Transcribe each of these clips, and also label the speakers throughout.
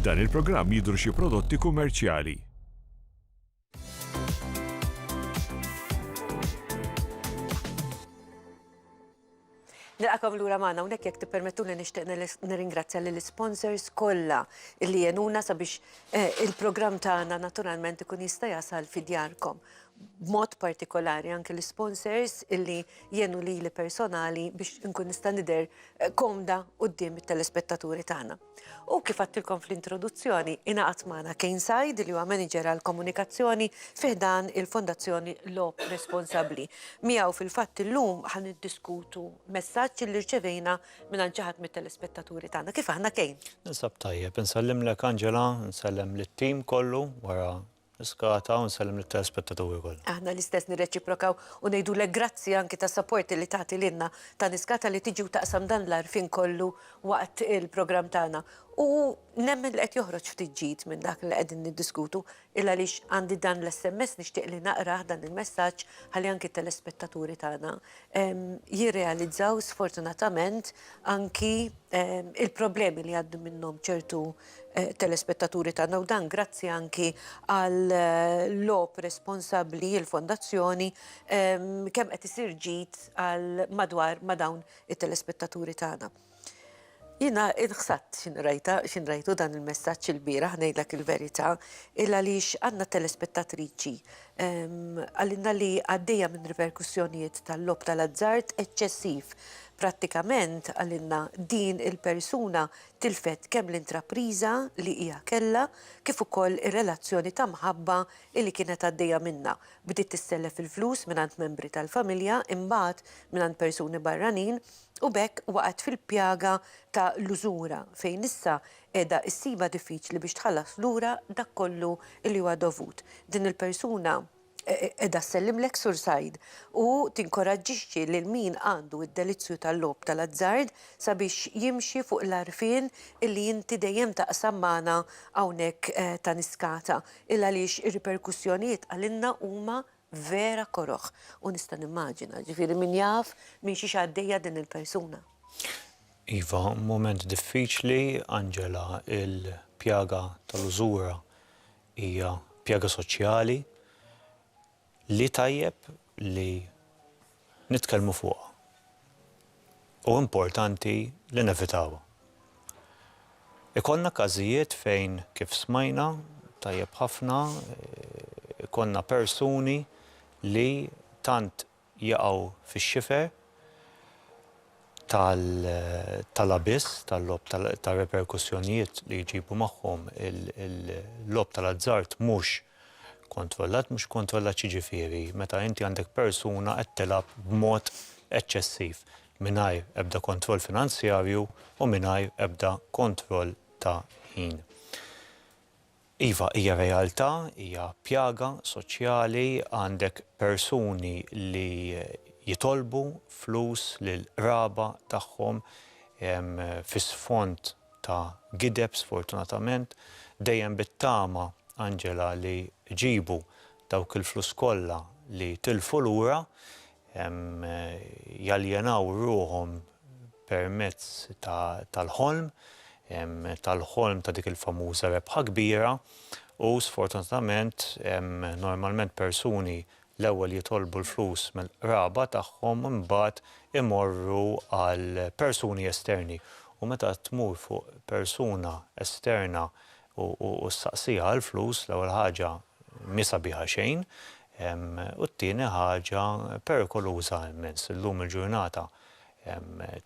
Speaker 1: F'dan il-programm jidhru xi prodotti kummerċjali.
Speaker 2: Nilqakom lura magħna hawnhekk jekk tippermettuli nixtieq nirringrazzja lill sponsors kollha li jenuna sabiex eh, il-programm tagħna naturalment ikun jista' jasal fidjarkom. b'mod partikolari anke l-isponsors illi jenu lili personali biex inkun nista' nidher eh, komda quddiem it-telespettaturi tagħna. U kif għattilkom fl-introduzzjoni, ingħaqad magħna Kane Said li huwa manager għal komunikazzjoni fiħdan il-Fondazzjoni Lop Responsabbli. Miegħu fil-fatt illum ħan iddiskutu messaġġ li rċevejna minn ġaħat mit-telespettaturi tagħna. Kif aħna Kane? Nisab tajjeb,
Speaker 3: nsellimlek Angela, nsellem lit-tim kollu wara Niskata u nsellem lit-telespettaturi kollha. Aħna l-istess nirreċiprokaw
Speaker 2: u ngħidulek grazzi anki tas-sapport li tagħti lilna ta' Niskata li tiġi u taqsam dan l-għarfien kollu waqt il-programm tagħna u nemmen li qed joħroġ ftit ġid minn dak li qegħdin niddiskutu il għaliex għandi dan l-SMS nixtieq li naqrah dan il-messaġġ ħalli anki t-telespettaturi tagħna jirrealizzaw sfortunatament anki il-problemi li jgħaddu minnhom ċertu telespettaturi tagħna u dan grazzi anki għall-logħob responsabbli l-Fondazzjoni kemm qed isir ġid għal madwar ma' dawn it-telespettaturi tagħna. Jiena inħsadt x'in rajta, x'in rajtu dan il-messaġġ il-bieraħ ngħidlek il-verità, il għaliex għandna telespettatriċi qalilna li għaddejja minn riperkussjonijiet tal-logħob tal-azzard eċċessiv. Prattikament qalilna din il-persuna Tilfet kemm l-intrapriża li hija kellha kif ukoll ir-relazzjoni ta' mħabba li kienet għaddejja minnha. Bdiet tissellef il-flus mingħand membri tal-familja, imbagħad mingħand persuni barranin u b'hekk waqgħet fil-pjaga ta' l-użura fejn issa qiegħda ssibha diffiċli biex tħallas lura dak kollu li huwa dovut. Din il-persuna. Qiegħda ssellimlek Sur Said u tinkoraġġixxi lil min għandu d-delizzju tal-logħob tal-azzard sabiex jimxi fuq l-għarfien illi inti dejjem taqsam magħna hawnhekk ta' Niskata il-għaliex ir-riperkussjonijiet għalina huma vera koroh u nista' nimmaġina ġifieri min jaf minn xiex għaddejja din il-persuna. Iva,
Speaker 3: mument diffiċli Angela, il-pjaga tal-użura Hija pjaga soċjali li tajjeb li nitkellmu fuqha u importanti li nevitawha. Ikollna każijiet fejn, kif smajna tajjeb ħafna, ikollna persuni li tant jaqgħu fix-xifer tal-abiss tal-logħob tar-reperkussjonijiet li jġibu magħhom il-logħob tal-azzard mhux kontrollat. Mhux kontrollat x'jiġifieri? Meta inti għandek persuna qed tilgħab b'mod eċċessiv mingħajr ebda kontroll finanzjarju u mingħajr ebda kontroll ta' ħin. Iva, hija realtà, hija pjaga soċjali, għandek persuni li jitolbu flus lill-qraba tagħhom fi sfond ta' gideb sfortunatament, dejjem bit-tama, Angela, li jġibu dawk il-flus kollha li tilfu lura. jaljenaw ruħhom permezz tal-ħolm, tal-ħolm ta' dik il-famuża rebħa kbira u sfortunatament normalment persuni l-ewwel jitolbu l-flus mill-qraba tagħhom u mbagħad imorru għal persuni esterni u meta tmur fuq persuna esterna u ssaqsiha għall-flus l-ewwel ħaġa Mhi sabiħa xejn. U t-tieni ħaġa, perikoluża immens. Illum il-ġurnata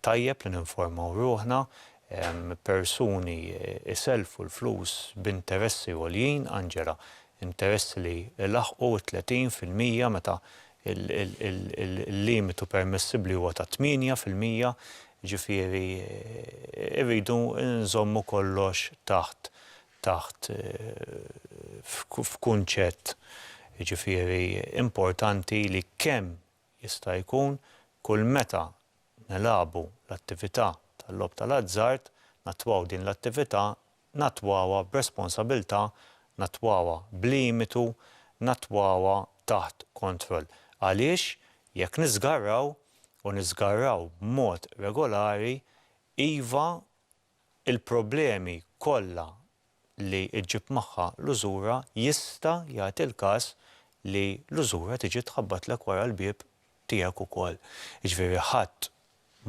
Speaker 3: tajjeb li ninformaw ruħna, persuni jsellfu l-flus b'interessi għoljin, Angela, interessi li jlaħħqu t-tletin fil-mija meta l-limitu permessibbli huwa ta' tmienja fil-mija, jiġifieri rridu nżommu kollox taħt taħt f'kunċett jiġifieri importanti li kemm jista' jkun kull meta nilagħbu l-attività tal-logħob tal-azzard nattwaw din l-attività nattwawha b'responsabiltà nattwawha b'limitu nattwawha taħt kontroll għaliex jekk niżgarraw u niżgarraw b'mod regolari iva il-problemi kollha li ġġib magħha l-użura, jista' jagħti l-każ li l-użura tiġi tħabbatlek wara l-bieb tiegħek ukoll. Jiġifieri ħadd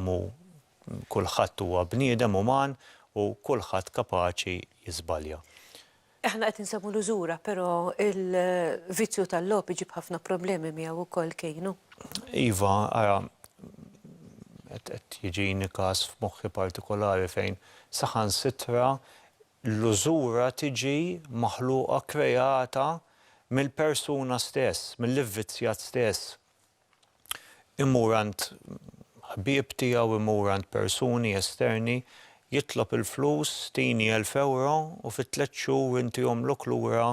Speaker 3: mhu kulħadd huwa bniedem uman u kulħadd kapaċi jiżbalja. Aħna
Speaker 2: qed insewwu l-użura, però l-vizzju tal-logħob iġib ħafna problemi miegħu wkoll, Keino. Iva,
Speaker 3: ara, qed jiġini każ f'moħħi partikolari fejn saħansitra l-użura tiġi maħluqa, kreata mill-persuna stess, mill-ivvizzjat stess. imur għand ħbieb tiegħu, imur għand persuni esterni, jitlob il-flus, tini elf ewro u fi tliet xhur inti għomlok lura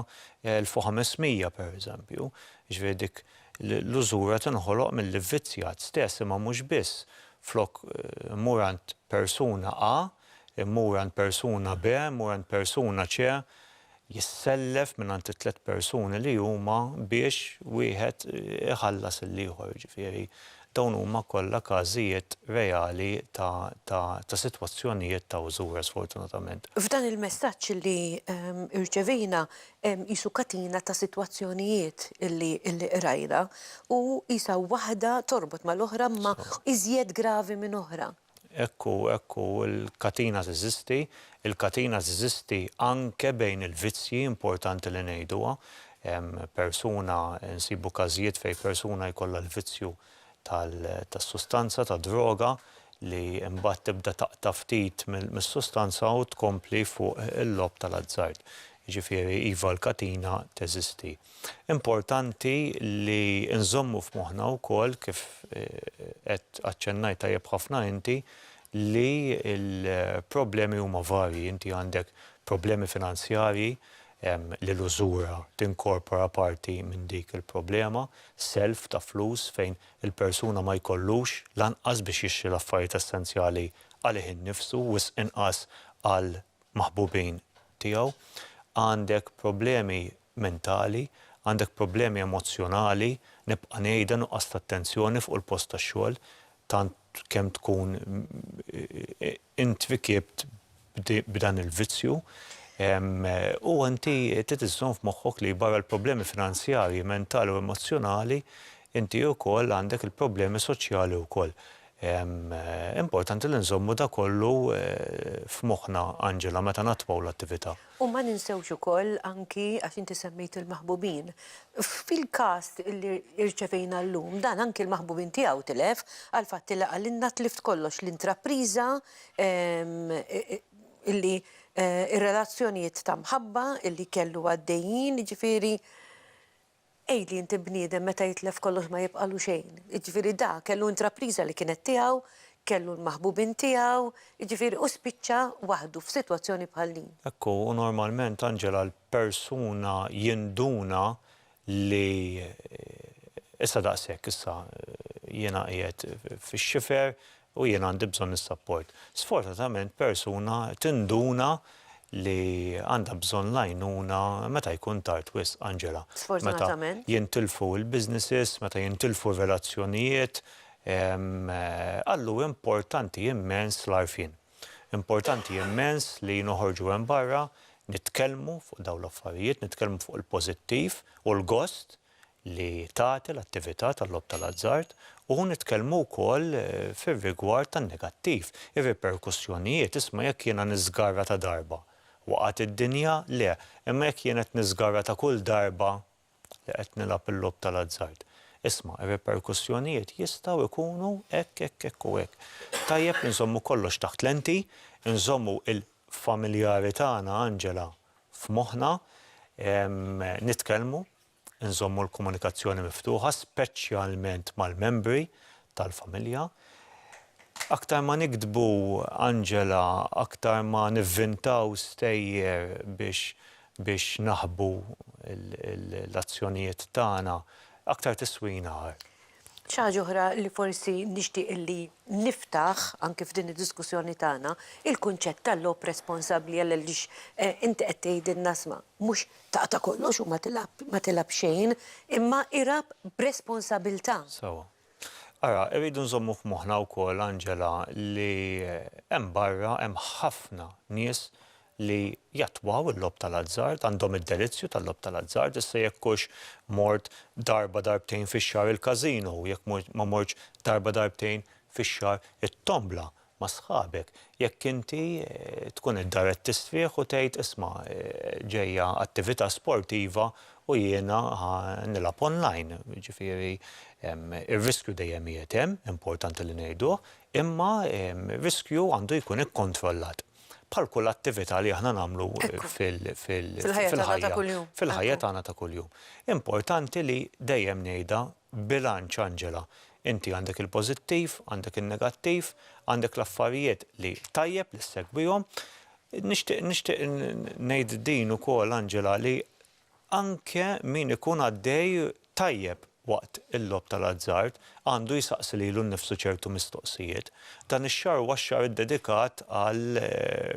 Speaker 3: elf u ħames mija, pereżempju. Jiġifieri dik l-użura tinħoloq mill-ivvizzjat stess, imma mhux biss. Flok immur għand persuna A, immur għand persuna B, immur għand persuna C, jissellef mingħand it-tliet persuni li huma biex wieħed iħallas lill-ieħor, jiġifieri dawn huma kollha każijiet reali ta' sitwazzjonijiet ta' użura sfortunatament. F'dan il-messaġġ
Speaker 2: li rċevejna hemm qisu katina ta' sitwazzjonijiet li qrajna u qisha waħda torbot mal-oħra imma iżjed gravi minn oħra. Hekk hu, hekk
Speaker 3: hu, il-katina teżisti, il-katina teżisti anke bejn il-vizzji, importanti li ngħiduha. Persuna, nsibu każijiet fejn persuna jkollha l-vizzju tas-sustanza, tad-droga, li mbagħad tibda taqta' ftit mis-sustanza u tkompli fuq il-logħob tal-azzard. Jiġifieri, iva l-katina teżisti. Importanti li nżommu f'moħħna wkoll, kif qed aċċennajt tajjeb ħafna inti, li l-problemi huma varji. Inti għandek problemi finanzjarji li l-użura tinkorpora parti minn dik il-problema, self ta' flus fejn il-persuna ma jkollux lanqas biex jixtri l-affarijiet essenzjali għalih innifsu, wisq inqas għall-maħbubin tiegħu. Għandek problemi mentali, għandek problemi emozzjonali, nibqa' ngħidha, nuqqas ta' attenzjoni fuq il-post tax-xogħol, tant kemm tkun int rikiebt b'dan il-vizzju, u inti trid iżżomm f'moħħok li barra l-problemi finanzjarji, mentali u emozzjonali, inti wkoll għandek il-problemi soċjali wkoll. Importanti li nżommu dak kollu f'moħħna, Angela, meta nattwaw l-attività. U ma ninsewx
Speaker 2: ukoll anki, għax inti semmejt il-maħbubin, fil-każ li rċevejna llum, dan anki l-maħbubin tiegħu tilef għall-fatt li qalilna tlift kollox, l-intrapriża, illi r-relazzjonijiet ta' mħabba illi kellu għaddejjin, jiġifieri. Għidli inti bniedem meta jitlef kollox ma jibqagħlu xejn. Jiġifieri da kellu intrapriża li kienet tiegħu, kellu l-maħbubin tiegħu, jiġifieri hu spiċċa waħdu f'sitwazzjoni bħal din. Hekk hu, u normalment
Speaker 3: Angela l-persuna jinduna li issa daqshekk issa jiena qiegħed fix-xifer, U jien għandi bżonn is-sapport. Sfortunatament persuna tinduna li għandha bżonn l-għajnuna meta jkun tard wisq, Angela. Meta
Speaker 2: jintilfu
Speaker 3: l-businesses, meta jintilfu r-relazzjonijiet, għal hu importanti immens l-għarfien. Importanti immens li noħorġu hemm barra, nitkellmu fuq dawn l-affarijiet, nitkellmu fuq il-pożittiv u l-gost li tagħti l-attività tal-logħob tal-azzard u nitkellmu wkoll fir-rigward tan-negattiv, ir-riperkussjonijiet, isma' jekk jiena niżgarra ta' darba, waqgħet id-dinja? Le, imma jekk jien qed niżgarra ta' kull darba li qed nilgħab il-logħob tal-azzard? Isma', ir-riperkussjonijiet jistgħu jkunu hekk, hekk, hekk u hekk. Tajjeb li nżommu kollox taħt lenti, inżommu l-familjari tagħna, Angela, f'moħħna, nitkellmu. Inżommu l-komunikazzjoni miftuħa, speċjalment mal-membri tal-familja. Aktar ma niktbu, Angela, aktar ma nivvintaw stejjer biex biex naħbu l-azzjonijiet tagħna, aktar tiswina. Xi ħaġa oħra
Speaker 2: li forsi nixtieq li niftaħ anki f'din id-diskussjoni tagħna, il-kunċett ta' logħob responsabbli għaliex inti qed tgħidilna isma' mhux taqta' kollox u ma tilgħab xejn, imma ilgħab b'responsabilità. Sewwa.
Speaker 3: Ara, irridu nżommu f'moħħna wkoll, Angela, li hemm barra hemm ħafna nies li jattwaw il-logħob tal-azzard għandhom id-delizzju tal-logħob tal-azzard, issa jekk hux mort darba darbtejn fix-xahar il-każino u jekk ma mortx darba darbtejn fix-xahar it-tombla ma' sħabek, jekk inti tkun id-dar qed tisfieħ u tgħid isma' ġejja attività sportiva u jiena ħa nilgħab online, jiġifieri r-riskju dejjem qiegħed hemm, importanti li ngħiduh, imma r-riskju għandu jkun ikkontrollat. bħal kull attività li aħna nagħmlu fil-ħajja tagħna ta' kuljum. Importanti li dejjem ngħidha bilanċ Angela. Inti għandek il-pożittiv, għandek in-negattiv, għandek l-affarijiet li tajjeb li ssegwihom. Nixtieq ngħid din ukoll Angela li Anke min ikun għaddej tajjeb waqt il-logħob tal-azzard għandu jsaqsi lilu nnifsu ċertu mistoqsijiet. Dan ix-xahar huwa x-xahar iddedikat għal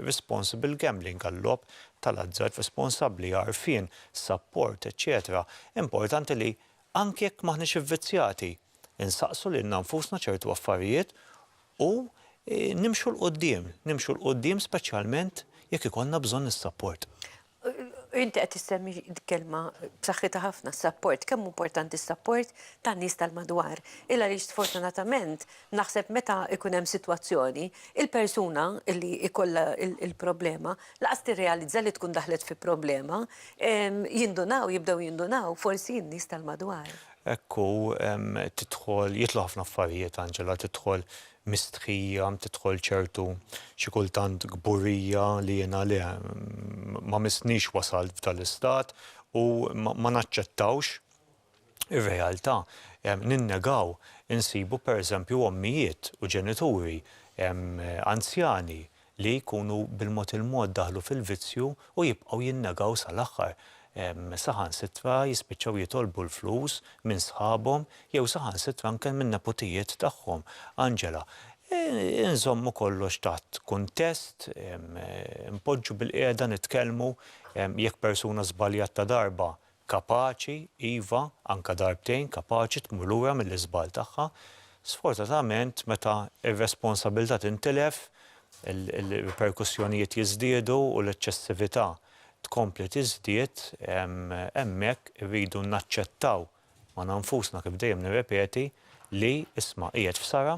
Speaker 3: responsible gambling, għal-logħob tal-azzard responsabbli, għarfien, sapport, eċċetera Importanti li, anke jekk m'aħniex ivvizzjati, insaqsu lilna nfusna ċertu affarijiet u nimxu 'l quddiem, nimxu 'l quddiem speċjalment jekk ikollna bżonn is-sapport. Inti
Speaker 2: qed issemmi kelma b'saħħitha ħafna s-sapport, kemm importanti s-sapport tan-nies tal-madwar. Il għaliex sfortunatament naħseb meta jkun hemm sitwazzjoni, il-persuna li jkollha l-problema lanqas tirrealizza li tkun daħlet fi problema, jindunaw, jibdew jindunaw forsi n-nies tal-madwar. Hekk hu,
Speaker 3: tidħol, jidħlu ħafna affarijiet Angela, tidħol mistħija tidħol ċertu xi kultant kburija li jiena le ma missnix wasalt f'dal-istat u ma naċċettawx ir-realtà. Ninnegaw insibu per eżempju ommijiet u ġenituri anzjani li jkunu bil-mod il-mod daħlu fil-vizzju u jibqgħu jinnegaw sal-aħħar, saħansitra jispiċċaw jitolbu l-flus minn sħabhom jew saħansitra anke min-neputijiet tagħhom. Angela, Inżommu kollox taħt kuntest, inpoġġu bilqiegħda nitkellmu, jekk persuna żbaljat ta' darba, Kapaċi, iva, anke darbtejn, kapaċi tmur lura mill-iżball tagħha. Sfortunatament, meta r-responsabilità tintilef, il-riperkussjonijiet jiżdiedu u l-eċċessività tkompli tiżdied, hemmhekk irridu naċċettaw magħna nfusna, kif dejjem nirrepeti, li, isma', qiegħed f'sara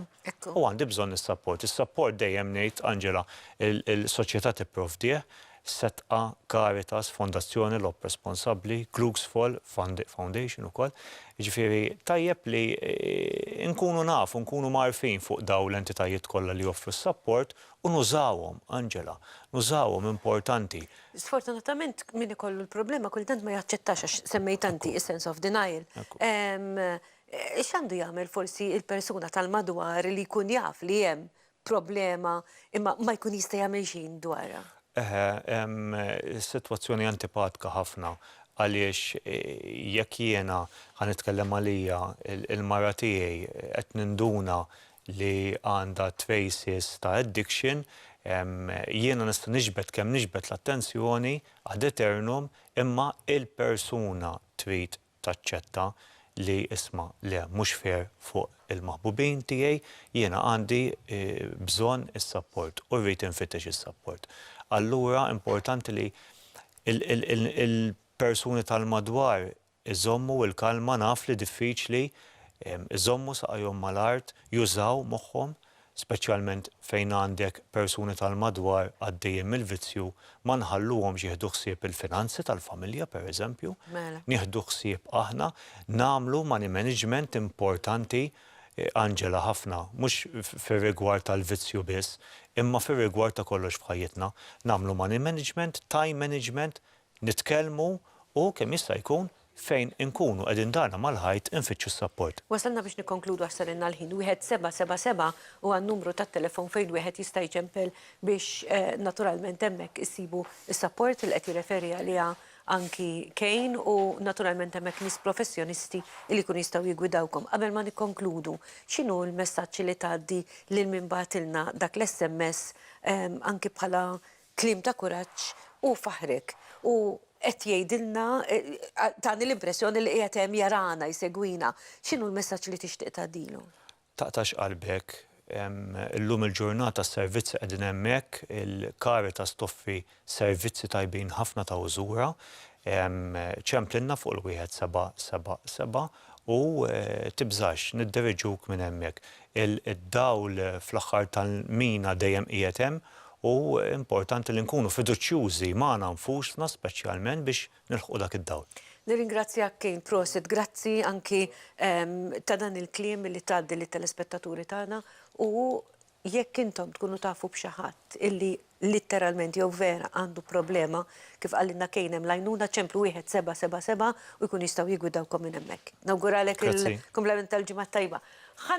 Speaker 3: u għandi bżonn is-sapport. Is-sapport dejjem ngħid, Angela, il-soċjetà tipprovdih, Setqa, Caritas, Fondazzjoni Lob Responsabbli, Glücksfall Foundation ukoll. Jiġifieri tajjeb li nkunu nafu, nkunu mgħarrfin fuq dawn l-entitajiet kollha li joffru s-sapport u nużawhom, Angela, nużawhom, importanti. Sfortunatament
Speaker 2: min ikollu l-problema kultant ma jaċċettax għax semmejtha inti is-sense of denial. X'għandu jagħmel forsi l-persuna tal-madwar li jkun jaf li hemm problema imma ma jkun jista' jagħmel xejn dwarha? Eħe,
Speaker 3: sitwazzjoni antipatka ħafna għaliex jekk jiena, ħa nitkellem għalija, il-mara tiegħi qed ninduna li għandha traces ta' addiction, jiena nista' niġbed kemm niġbed l-attenzjoni ad eternum imma l-persuna trid taċċetta li isma' le mhux fair fuq il-maħbubin tiegħi, jiena għandi bżonn is-sapport u rrid infittex is-sapport. Allura importanti li l-persuni tal-madwar iżommu l-kalma naf li diffiċli iżommu saqajhom mal-art jużaw moħħhom speċjalment fejn għandek persuni tal-madwar għaddejjin mill-vizzju, ma nħalluhomx jieħdu ħsieb il-finanzi tal-familja, pereżempju. Mela. Nieħdu ħsieb aħna, nagħmlu money management importanti, Angela, ħafna, mhux fir-rigward tal-vizzju biss, imma fir-rigward ta' kollox f'ħajjitna. Nagħmlu money management, time management, Nitkellmu u, kemm jista' jkun, fejn inkunu qegħdin darna mal-ħajt infittxu s-sapport. Wasalna biex nikkonkludu
Speaker 2: għax sarilna l-ħin. Wieħed sebgħa sebgħa sebgħa huwa n-numru tat-telefon fejn wieħed jista' jċempel biex naturalment hemmhekk issibu s-sapport li qed jirreferi għaliha anki Kane u naturalment hemmhekk nies professjonisti li jkunu jistgħu jiggwidawkom. Qabel ma nikkonkludu, x'inhu l-messaġġ li tgħaddi lil min bagħatilna dak l-SMS anki bħala Kliem ta' kuraġġ u faħrek u qed jgħidilna tani l-impressjoni li qiegħed hemm jarana jsegwina.
Speaker 3: X'inhu
Speaker 2: l-messaġġ li tixtieq tgħaddilu?
Speaker 3: Taqtax
Speaker 2: qalbek. Illum
Speaker 3: il-ġurnata s-servizzi qegħdin hemmhekk, il-Caritas toffri servizzi tajbin ħafna ta' użura. Ċemplilna fuq il-1777. U tibżax, nidderiġuk minn hemmhekk. Id-dawl fl-aħħar tal-mina dejjem qiegħed hemm u importanti li nkunu fiduċjużi magħna nfusna speċjalment biex nilħqu dak id-dawl. Nirringrazzjak Kane,
Speaker 2: prosit, grazzi anki ta' dan il-kliem li tgħaddi lit-telespettaturi tagħna u Jekk intom tkunu tafu b'xi ħadd illi litteralment jew vera għandu problema, kif qalilna Kane hemm l-għajnuna, ċemplu wieħed seba' seba' seba' u jkunu jistgħu jiggwidawkom minn hemmhekk. Nawguralek il-kumplament tal-Ġimgħa t-Tajba. Ħa